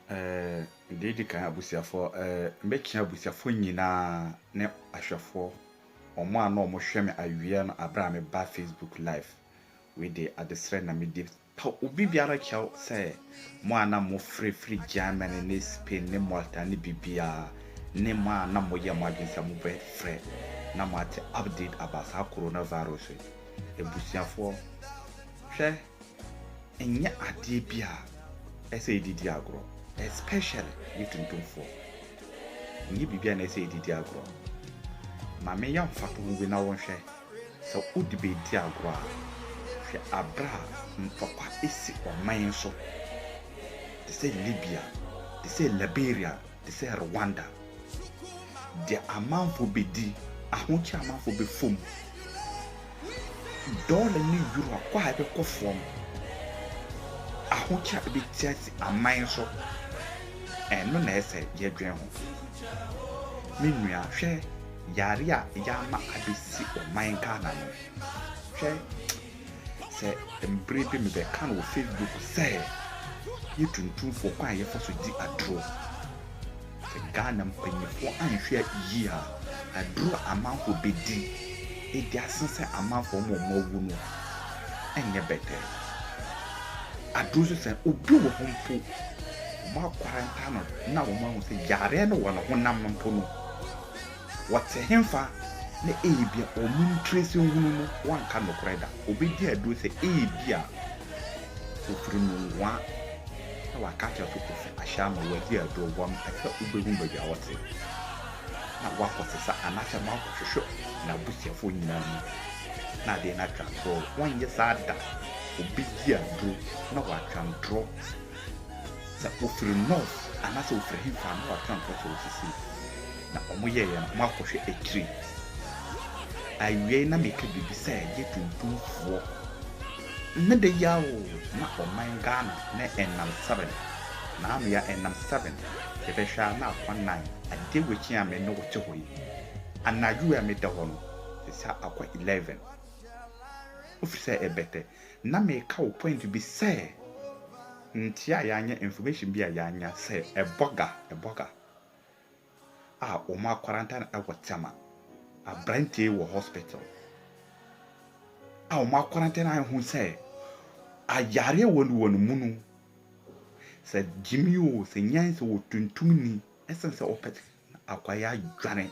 Deɛ ɛdi kan, abusuafoɔ, mɛkyia abusuafoɔ nyinaa ne ahwɛfoɔ, wɔn a na wɔhwɛ me awia no berɛ a meba Facebook live. Wei deɛ adesrɛ na medi pa obibiara kyɛw sɛ mo a na mofiri firi Germany ne Spain ne Malta ne biribiara ne mo a na moyɛ mo adwene sɛ mobɛfrɛ na moate update about saa coronavirus yi. Abusuafoɔ, hwɛ Ɛnyɛ adeɛ bi a ɛsɛ yɛde di agorɔ especially yɛ tuntumfoɔ. Ɛnyɛ biribi a na ɛsɛ yɛde di agorɔ. Ma menyɛ mfatoho bi na wonhwɛ, sɛ wode bɛdi agorɔ a, hwɛ aberɛ a ntɔkwa asi ɔman so te sɛ Libya, te sɛ Liberia, te sɛ Rwanda, deɛ amanfoɔ bɛdi, ahokyere a amanfoɔ bɛfa mu, dɔla ne euro akɔ a ɛbɛkɔ fam, ahokyere a ɛbɛti asi aman so, ɛno na ɛsɛ yɛdwen ho. Me nua, hwɛ yare a yɛama abɛsi ɔman Ghana no, hwɛ Sɛ mbre bi mebɛka no wɔ Facebook sɛ yɛ tuntumfoɔ kwan a yɛfa so di aduro. Sɛ Ghana mpanyinfoɔ anhwɛ yie a aduro a amanfoɔ bɛdi adi asen sɛ amanfoɔ ama wɔn awu no ɛnyɛ bɛtɛ. Aduro nso sɛ obi wɔ hɔ mpo wɔn akwaranta no na wɔn ahu sɛ yareɛ no wɔ ne honam no mpo no. Wɔtse henfa, na eyebia wɔn ntiresinhunu no wɔnnka nokorɛ da? Obedi aduro sɛ eyebia Ofiri no nkoa na waka akyerɛ so ofi ahyɛ ama wɔadi aduro, wɔmpɛ sɛ wobehu baabi a ɔtse, na wɔakɔsesa anaasɛ wɔakɔhwehwɛ n'abusuafoɔ nyinaa mu, na adeɛ no atwa atorɔ. Wɔnyɛ saa da, obedi aduro na watwa ntorɔ sɛ ofiri North, anaasɛ ofiri henfa, na watwa ntorɔ sɛ osisi. Na wɔyɛɛ yɛn ho akɔhwɛ akyiri. Awiei na meka biribi sɛ yɛ tuntumfoɔ. Ne de yɛ a o, na ɔman Ghana ne nnam seven, na ano yɛ a nnam seven, yɛbɛhwɛ a na akwa nnan. Adeɛ wekyi a me ne wo te hɔ yi, anadwo wei a meda hɔ no, seesei a akwa eleven. Wofiri sɛ ɛbɛtɛ. Na meka wo point bi sɛ nteɛ a yɛanya, information bi a yɛanya sɛ ɛbɔga, ɛbɔga. a wɔn akwaranta no ɛwɔ tɛma aberanteɛ wɔ hospital a wɔn akwaranta no ahu sɛ ayareɛ wɔ no wɔ no mu no sɛ gyimi o sɛ nyan sɛ wɔtuntum ni ɛsɛn sɛ wɔpɛ akwayɛ adwane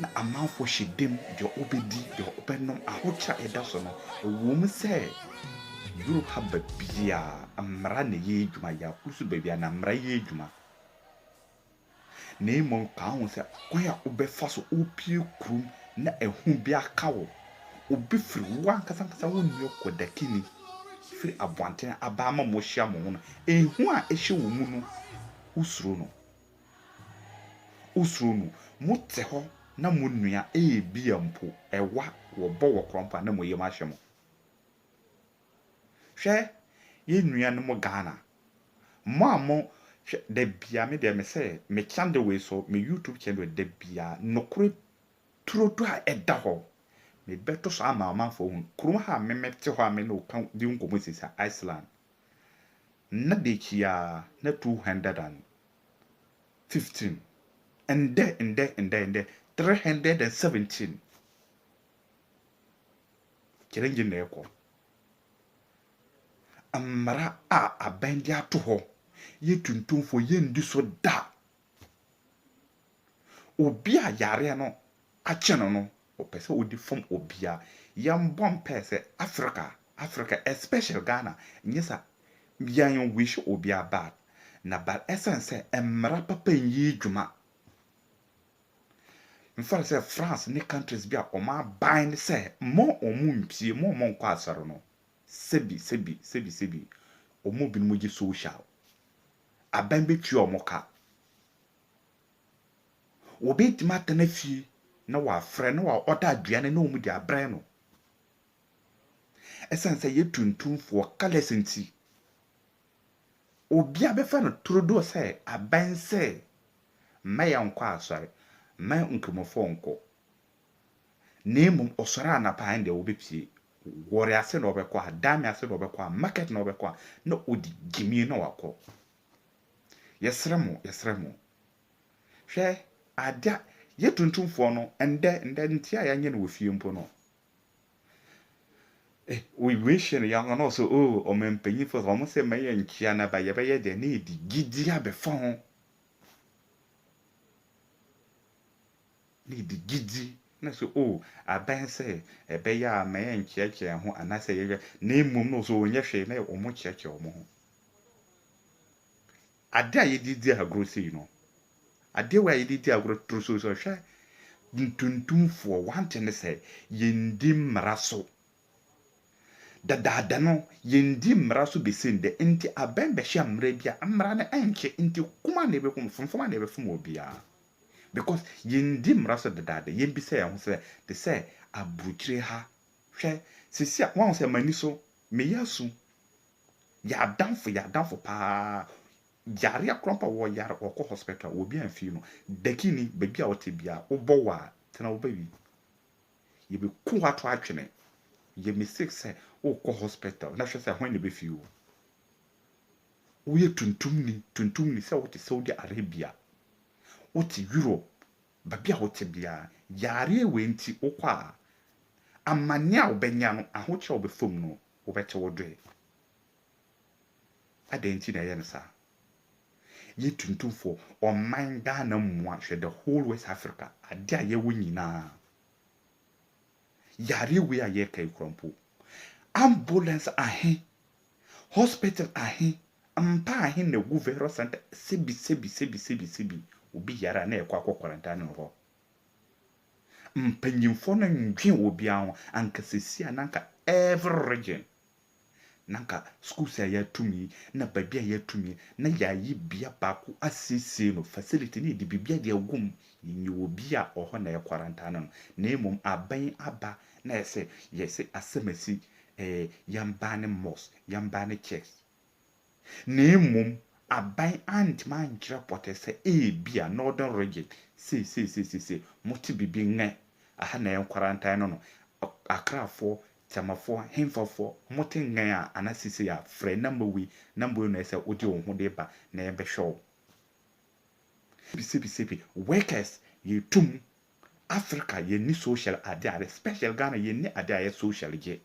na amanfoɔ hyɛ dam deɛ wɔbɛdi, deɛ wɔbɛnom, ahokyerɛ a ɛda so no, ɛwom sɛ Europe ha baabiara mmara na ɛyɛ adwuma, yɛakoro nso baabiara na mmara yɛ adwuma, na mmom ka ho sɛ kwan a wobɛfa so wopue kurom na ɛho bi aka wo, obi firi wo ankasa ankasa wo nua Kwadakini firi aboantene aba ama moahyia mo ho no, ɛhu a ɛhyɛ wo mu no, wosuro no. Wosuro no. Mote hɔ na monua, ebia mpo ɛwa, wɔbɔ wɔ korɔn mpo a na mo yam ahyɛ mo. Hwɛ yɛn nuanom Ghana, mo a mo, hwɛ, da biara, me deɛ mesɛ me channel wei so, me YouTube channel wei, da biara, nokorɛ turodoo a ɛda hɔ, mebɛto so ama amanfoɔ ahunu. Kurom ha a me mete hɔ a me ne wo ka, di wo nkɔmmɔ seesei, Iceland, nna deekyi aa na two hundred and fifteen ndɛ ndɛ ndɛ ndɛ three hundred and seventeen kyerɛ ngye na ɛkɔ mmara a abɛn de ato hɔ yɛ tuntumfoɔ yɛndi so da Obi a yareɛ no akye no no, ɔpɛ sɛ ɔdi fam obia. Yɛmbɔ mpaɛ sɛ Africa, Africa especially Ghana, nyɛ sa yɛn wish obia bad na but ɛsiane sɛ mmara papa nyii dwuma. Mfa no sɛ France ne countries bi a wɔn abind sɛ mma wɔn mpie, mma wɔn nkɔ asɔre no, sɛbi sɛbi sɛbi sɛbi wɔn mu binom gye social. abɛn bɛtua wɔn ka. Obi ntumi atena fie na wafrɛ na ɔda aduane na wɔde abrɛ no. Ɛsiane sɛ yɛ tuntumfoɔ, colours nti, obiara bɛfa no turodoo sɛ abɛn sɛ mma yɛnkɔ asɔre, mma nkramofoɔ nkɔ. Na mmom ɔsɔre anapa a ɛnde ɔbɛpue, Warri ase na ɔbɛkɔ a, Dame ase na ɔbɛkɔ a, Market na ɔbɛkɔ a, na ɔdi gyimie na wakɔ. Yɛsrɛ mo, yɛsrɛ mo. Hwɛ adeɛ a, yɛ tuntumfoɔ no, ɛndɛ, ɛndɛ nti a yɛanyɛ no wɔ fie mpo no, eh, wei, wei hyɛ no ya hɔ na ɔsɛ oh, ɔmampanyinfoɔ, wɔn sɛ mma yɛn nkyia no aba, yɛbɛyɛ deɛ na ɛdi gyidie abɛfa ho. ne de gyidi ne so o, abɛn sɛ ɛbɛyɛ a ma yɛnkyerɛkyerɛ yɛn ho anaasɛ yɛyɛ, na mmom no sɛ wɔnyɛ hwee na wɔkyerɛkyerɛ wɔn ho. Adeɛ a yɛde di agorɔ sei no, adeɛ wei a yɛde di agorɔ toro so so, hwɛ ntuntumfoɔ, one thing ne sɛ yɛndi mmara so. Dadaada no, yenndii mbra so besin dɛ ntsi abɛmbɛhyɛ mbra bi a mbra no nnkye ntsi kum a na yebokum fomfom a na yɛbɛfom obiara. Because yenndii mbra so dadaada, yemmbisa hɛnho sɛ te sɛ aborɔkyire ha, hwɛ sisi a woahu sɛ m'ani so, meyɛ asu, yɛ adamfo, yɛ adamfo paa, yareɛ koraa mpo a wɔyare wɔkɔ hospital a obi amfii no, Dakini, baabi a wote biara wobɔ wo a tena wo baabi. Yɛbɛku wo ato atwene. Yɛ mistake sɛ wokɔ hospital na hwɛ sɛ hwan na ɛbɛfii wo. Woyɛ tuntumni, tuntumni sɛ wote Saudi Arabia, wote Europe, baabi a wote biara, yareɛ wei nti wokɔ a, amanneɛ a wobɛnya no, ahokyerɛ a wobɛfa mu no, wobɛte wo doe. Adɛn nti na ɛyɛ no saa? Yɛ tuntumfoɔ, ɔman Ghana mua hwɛ the whole west Africa adeɛ a yɛwɔ nyinaa yareɛ wei a yɛreka yi kora mpo ambulance ahe hospital ahe mpa ahe na ɛgu virus center sebi sebi sebi sebi sebi obi yare a na ɛkɔ akɔ quarantine no hɔ mpanyinfoɔ no ndwen obiara ho anka sɛsi a na anka every region na anka schools a yɛatum yi na baabi a yɛatum yi na yɛayi bea baako asiesie no, facility na yɛde biribiara de agu mu, yɛnyɛ obi a ɔhɔ na yɛkwarantanne no, na mmom aban yi aba na ayɛ sɛ yɛse asɛm asi, ɛɛ yɛn baa ne mosque, yɛn baa ne church. na mmom aban antumi ankyerɛ pɔtee sɛ ebia Northern Region seisei seisei mote biribi nnɛ, aha na ɛyɛ nkwarantan no no, Akrafoɔ, Temafoɔ, hemfafoɔ, mote nnɛ a anaa seisei a, frɛ number wei, number wei na ɛsɛ sɛ wode wo ho de ba na yɛbɛhwɛ wo. Sebisebi, workers yɛtu mu, Africa yɛnni social adeɛ a especially Ghana yɛnni adeɛ a ɛyɛ social gye.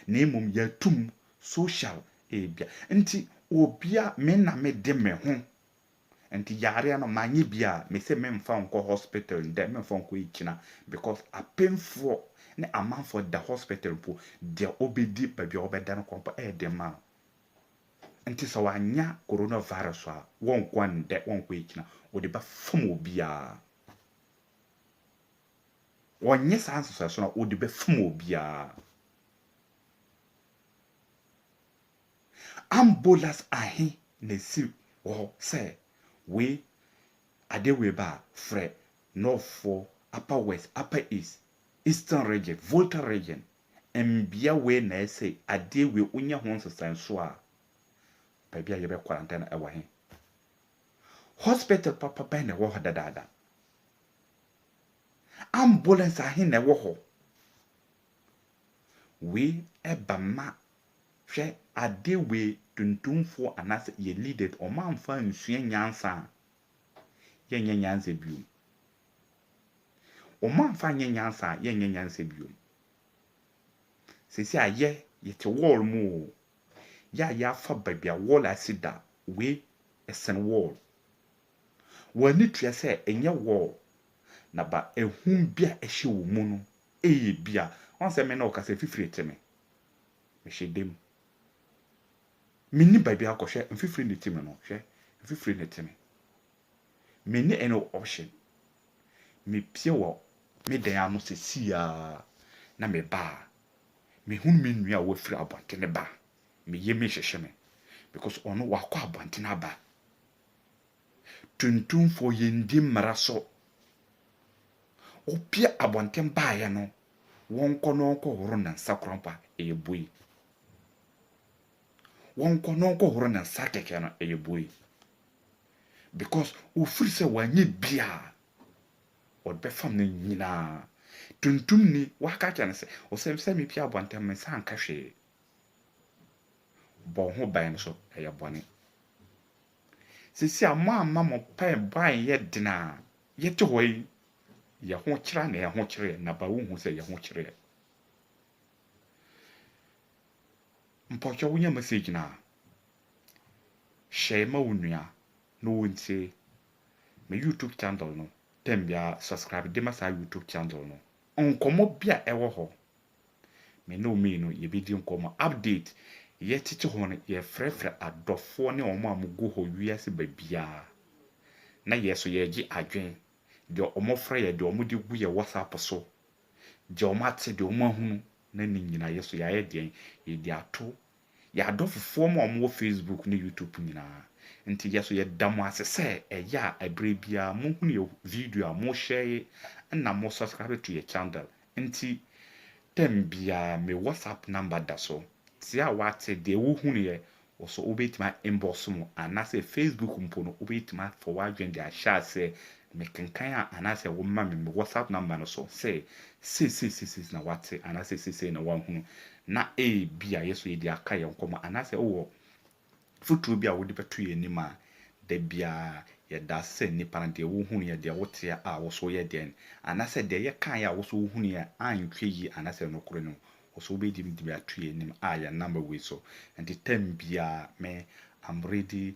na mmom yɛato mu social ebia nti obia me na me de me ho nti yareɛ no manyɛ bi a me se memfa nkɔ hospital ndɛ memfa nkɔ ekyina because apemfoɔ ne amanfoɔ da hospital mpo deɛ obedi baabi a wɔbɛda no kɔ mpo ɛyɛ den ma no nti sɛ wanya corona virus a wɔnkɔ ndɛ wɔnkɔ ekyina wɔde bɛfam obiara. Ɔnyɛ saa nsesaeɛso no a ɔde bɛfom obiara. Ambolas ahe na ɛsi wɔ hɔ sɛ wei adeɛ wei ba a frɛ Northfoɔ, Upper West, Upper East, Eastern Region, Volta Region, mbea wei na ɛsɛ adeɛ wei wonya ho nsesaeɛso a baabi a yɛbɛ quarantine no ɛwɔ he? Hospital papa bɛn na ɛwɔ hɔ dadaada? Ambulance ahe na ɛwɔ hɔ? Wei ɛba ma hwɛ ade wei tuntumfoɔ anaasɛ yɛ leaders wɔn amfa ansua nyansa a yɛnyɛ nyansa bio. Wɔn amfa anyɛ nyansa a yɛnyɛ nyansa bio. Seesei a yɛ yɛte wall mu oo, yɛ a yɛafa baabi a wall asi da wei ɛsen wall. Wɔn ani tua sɛ ɛnyɛ wɔɔ na ba ahum bi a ɛhyɛ wɔn mu no ɛyɛ bi a wɔn sɛ me na ɔkasa fifiri te me. Mehyɛ dam. Me ni baabi akɔ hwɛ mfifiri ne te me no hwɛ mfifiri ne te me. Me ni any option. Me pie wɔ me dan ano sɛ si ya na me ba a me hunu me nua a wafiri abɔntene ba a me yɛ mi hyehye me because ɔno wakɔ abɔntene aba Tuntumfoɔ yɛndi mmara so. Wopia abɔnten baeɛ no wɔnkɔ na wɔnkɔ horo ne nsa koranfa ɛyɛ bue. Wɔnkɔ na wɔnkɔ horo ne nsa kɛkɛ no ɛyɛ bue. Because ofiri sɛ wanyɛ bia wɔde bɛfam no nyinaa. Tuntumni waka akyerɛ no sɛ ɔsɛ sɛ mepia abɔnten me nsa anka hwee. Bɔ wo ho ban nso, ɛyɛ bɔne. Seesei a moamma mo mpaebɔ anyɛ den a yɛte hɔ yi, yɛ ho kyerɛ anaa yɛ ho kyereɛ? Na ba wonhu sɛ yɛ ho kyereɛ. Mpɔkyɛ wonya message no a, hyɛe ma wo nua na ɔntie. Me YouTube channel no, tɛm biara subscribe de ma saa YouTube channel no. Nkɔmmɔ bi a ɛwɔ hɔ Me ne wo mmienu yɛbɛdi nkɔmmɔ. Update, Yɛtete hɔ no, yɛfrɛfrɛ adɔfoɔ ne wɔn a wɔgu hɔ wiase baabiara. Na yɛn nso yɛregye adwene. Deɛ wɔfrɛ yɛn, deɛ wɔde gu yɛn WhatsApp so, deɛ wɔate, deɛ wɔahunu, na ne nyinaa yɛn nso yɛayɛ deɛn? Yɛde ato Yɛ adɔfofoɔ mo a wɔn wɔ Facebook ne YouTube nyinaa. Nti yɛ so yɛ da mo ase sɛ ɛyɛ a ɛberɛ biara mo hunu yɛ video a mo share ye ɛna mo subscribe to yɛ chandel nti tɛm biara me WhatsApp number da so te a wa te deɛ wo hunu yɛ wɔ so wo bɛ tumi a inbox mo anaa sɛ Facebook mpo no wo bɛ tumi a fa w'adwene de ahyɛ aseɛ Mekenkan a anaasɛ woma me me WhatsApp number no so sɛ seisei seisei na wate anaasɛ seisei na wahunu na ebia yɛso yɛde aka yɛn nkɔmmɔ anaasɛ wowɔ foturo bi a wode bɛto yɛn anim a, da biara yɛda ase sɛ nnipa no deɛ wohunuiɛ, deɛ woteɛ a wo so woyɛ dɛn anaasɛ deɛ yɛkaeɛ a wo so wohunuiɛ antwɛ yie anaasɛ nokore no wo so wobɛtumi de ato yɛn anim a yɛn number wei so. Nti term biara me am ready